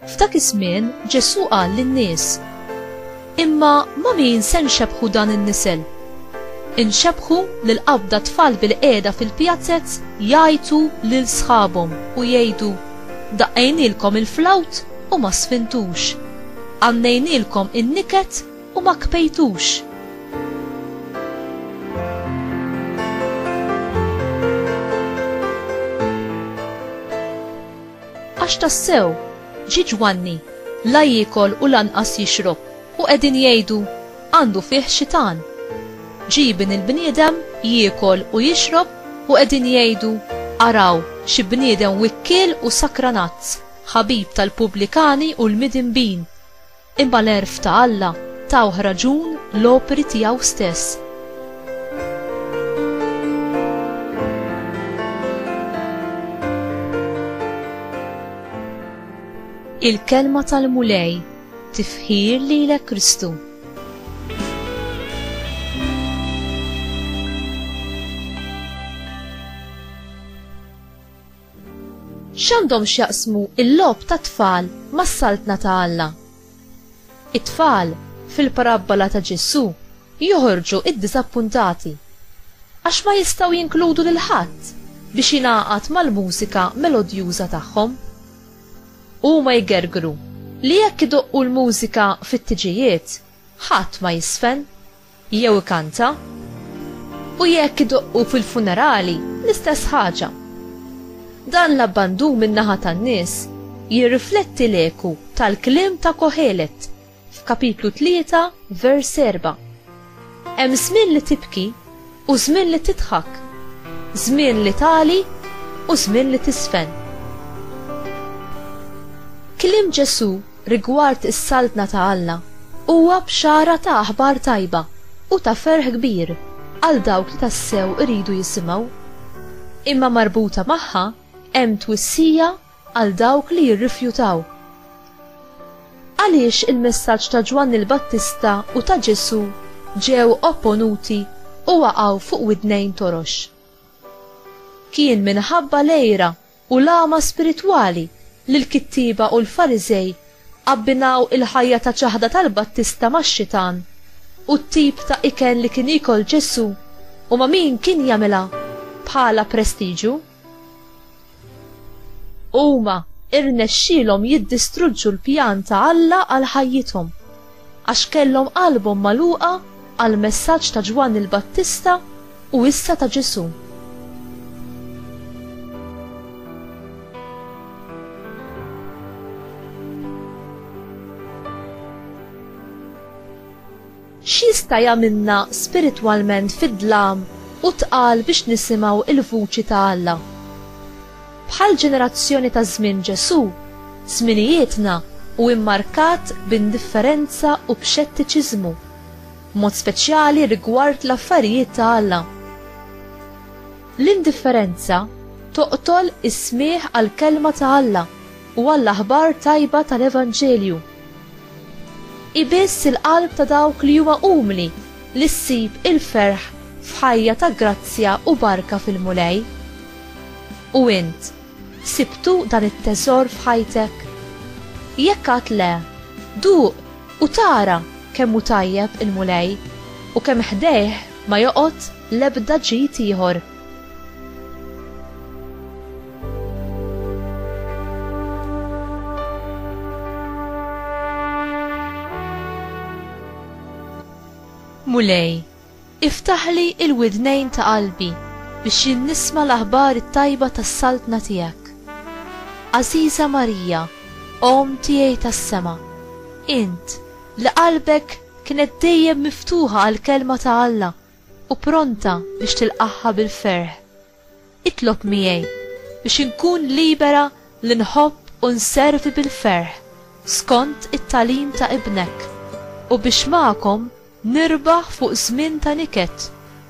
F'dak iż-żmien Ġesù qal lin-nies, Imma ma' min se nxebbħu dan in-nisel? Inxebbħu lil qabda tfal bilqiegħda fil-pjazez jgħajtu lil sħabhom u jgħidu, 'Daqqejnielkom il-flawt u ma sfintux, għannejnielkom in-niket u ma kbejtux. Għax tassew, ġie Ġwanni, la jiekol u lanqas jixrob, u qegħdin jgħidu, Għandu fih xitan. Ġie Ibn il-bniedem, jiekol u jixrob, u qegħdin jgħidu, Araw, xi bniedem wikkiel u sakranazz, ħabib tal-pubblikani u l-midinbin! Imma l-għerf ta' Alla tawh raġun l-opri tiegħu stess. Il-kelma tal-Mulej tifħir lilek Kristu. X'għandhom x'jaqsmu l-logħob tat-tfal mas-Saltna ta' Alla? It-tfal, fil-parabbola ta' Ġesù, joħorġu iddiżappuntati għax ma jistgħu jinkludu lil ħadd biex jingħaqad mal-mużika melodjuża tagħhom. Huma jgergru li jekk idoqqu l-mużika fit-tiġijiet, ħadd ma jisfen. jew ikanta, u jekk idoqqu fil-funerali l-istess ħaġa. Dan l-abbandun min-naħa tan-nies jirrifletti l-eku tal-kliem ta' Kohelet f'kapitlu tlieta vers serba', Hemm żmien li tibki u żmien li tidħak, żmien li tagħli u żmien li tiżfen. Kliem Ġesù rigward is-Saltna ta' Alla huwa bxara ta' aħbar tajba u ta' ferħ kbir għal dawk li tassew iridu jisimgħu. Imma marbuta magħha hemm twissija għal dawk li jirrifjutaw. Għaliex il-messaġġ ta' Ġwanni l-Battista u ta' Ġesù ġew opponuti u waqgħu fuq widnejn torox? Kien minħabba l-għira u l-għama spiritwali li l-kittieba u l-Fariżej abbinaw il-ħajja ta' ċaħda tal-Battista max-xitan u t-tip ta' ikel li kien jiekol Ġesù u ma' min kien jagħmilha bħala prestiġu. Huma rnexxielhom jiddistruġġu l-pjan ta' Alla għal ħajjithom għax kellhom qalbhom magħluqa għall-messaġġ ta' Ġwanni l-Battista u issa ta' Ġesù. X'jista' jagħmilna spiritwalment fid-dlam u tqal biex nisimgħu l-vuċi ta' Alla? Bħall-ġenerazzjoni ta' żmien Ġesù, żminijietna hu mmarkat b'indifferenza u b'xettiċiżmu. b'mod speċjali rigward l-affarijiet ta' Alla. L-indifferenza toqtol is-smigħ għall-kelma ta' Alla u għall-aħbar tajba tal-Evanġelju. Ibiss il-qalb ta' dawk li huma umli li ssib il-ferħ f'ħajja ta' grazzja u barka fil-Mulej. U int, Sibtu dan it-teżor f'ħajtek? Jekk għad le, duq u tara kemm hu tajjeb il-Mulej u kemm ħdejh ma joqgħod l-ebda ġid ieħor. Mulej, Iftaħli l-widnejn ta' qalbi biex jien nisma' l-aħbar it-tajba tas-Saltna tiegħek. Għażiża Marija, Omm tiegħi tas-sema, int, li qalbek kienet dejjem miftuħa għall-Kelma ta' Alla u pronta biex tilqagħha bil-ferħ, Itlob miegħi biex inkun libera li nħobb u nservi bil-ferħ skont it-tagħlim ta' Ibnek, u biex magħkom nirbaħ fuq żmien ta' niket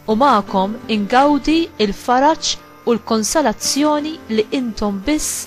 u magħkom ingawdi l-faraġ u l-konsolazzjoni li intom biss